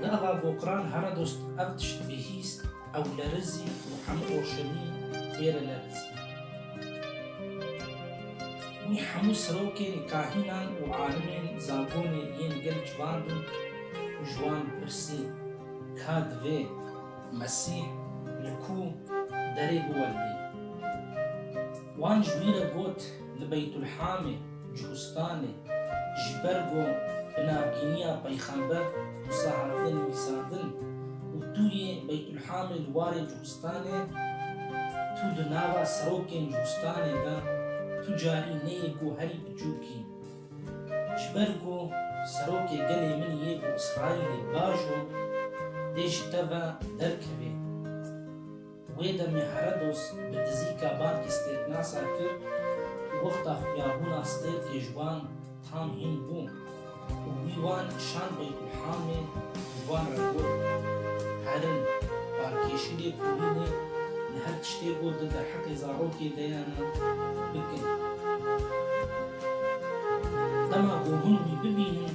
Niha Bokran hera dost ev tişt bihîst, ew lerizî û hemû roşenî ê re lerizî. Wî hemû sirokên, kahînan û alimên zagonê yên gel civandin û ji wan pirsî ka divê Mesîh li ku derê biwelbîn. Wan ji wî re got. Li Beytulhamê, Cuhustanê, ji ber ku bi navgîniya Peyxember wisa hatine nivîsandin û tu yê Beytulhamê li warê Cuhustanê, tu di nava serokên Cuhustanê de tu carî neyê ku herî biçûk î. Ji ber ku serokê gelê min yê ku Îsraîlê bajo dê ji te ve derkevê. Wê demê Herodos bi dizîka bankê stêrknasa kir û wexta xuyabûna stêrkê ji wan tam hîn bû û wî wan şand Beytulhamê ji wan re got, Herin, barkêşî lê kurînê li her tiştê got di derheqê zarokê de ye ne, bikin. Dema ku hûn wî bibînin,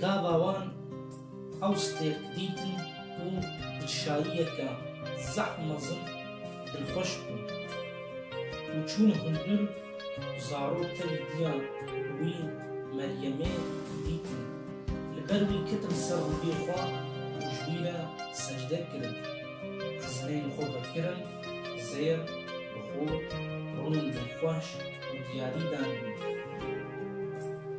Gava wan ew stêrk dîtin ku di çayiyeke zehf mezin dilxweş bûn û çûn hundir û zarok tevî diya wî Meryemê dîtin. Li ber wî ketin ser rûbê xwe û ji wî re secde kirin. Xizineyên xwe vekirin, zêr, bi xwe, rûnên dilxweş û diyarî dan wî.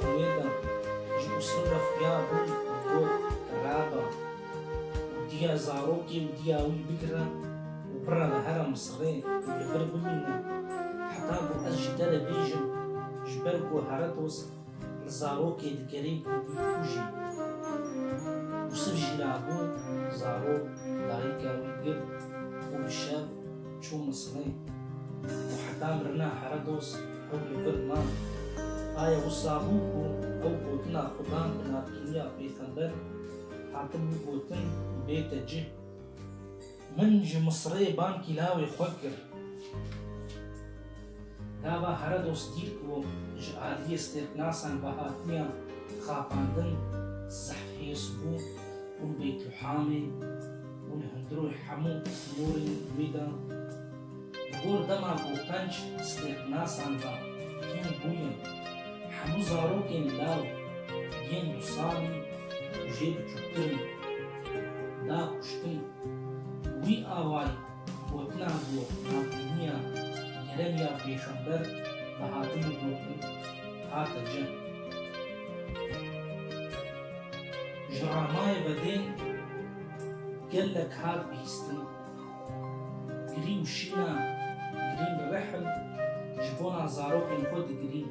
Xwê da ji Muslim re xuya bû û got, Reba, diya zarokê û diya wî bigire û bire li herra Misirê û li vir bimîne heta ku ez ji te re bêjim, ji ber ku Heretos li zarokê dikerê ku wî kûjî. Yûsif jî rabû zarok, dayika wî girt û bi şev, Çû miskin û heta mirina here doz ew li vir man. Aye wisa bû ku ew gotina xwe dan bi navkiriniya pêxember, hatibû gotin bê te cih. Min ji Misirê bankî lawê xwe kir. Gava Herodos dîr ku ji aliyê stêrklasan ve hatiye xapandin, zehf hêrs bû û li Beytluhamê û li hundirû hemû norên wê de li gor dema ku penc stêrklasan ve hîn bûye, hemû zarokên law yên du salî û jê biçûktir in, da kuştin. Wî awayî. Gotina ku navbîniya gerem ya pêxember vehatin û gotin hate cem. Ji ramayê ve dê gelek hat bihîstin. Girîn şîna, girîn rehm ji bona zarokên xwe digirîn.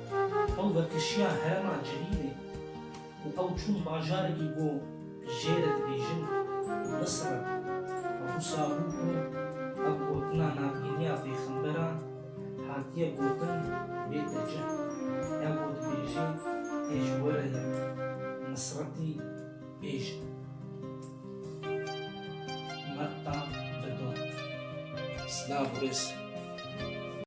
Ew vekişiya herema Celîlê û ew çûn bajarekî ku jê re dibêjin Misra. Ebu Sabû ku ev gotina navbîniya pêxemberan hatiye gotin bête cih. Ew ku dibêjê tê ji we re ye, Misretî bêj e. Metta Didon. Silav û rêz.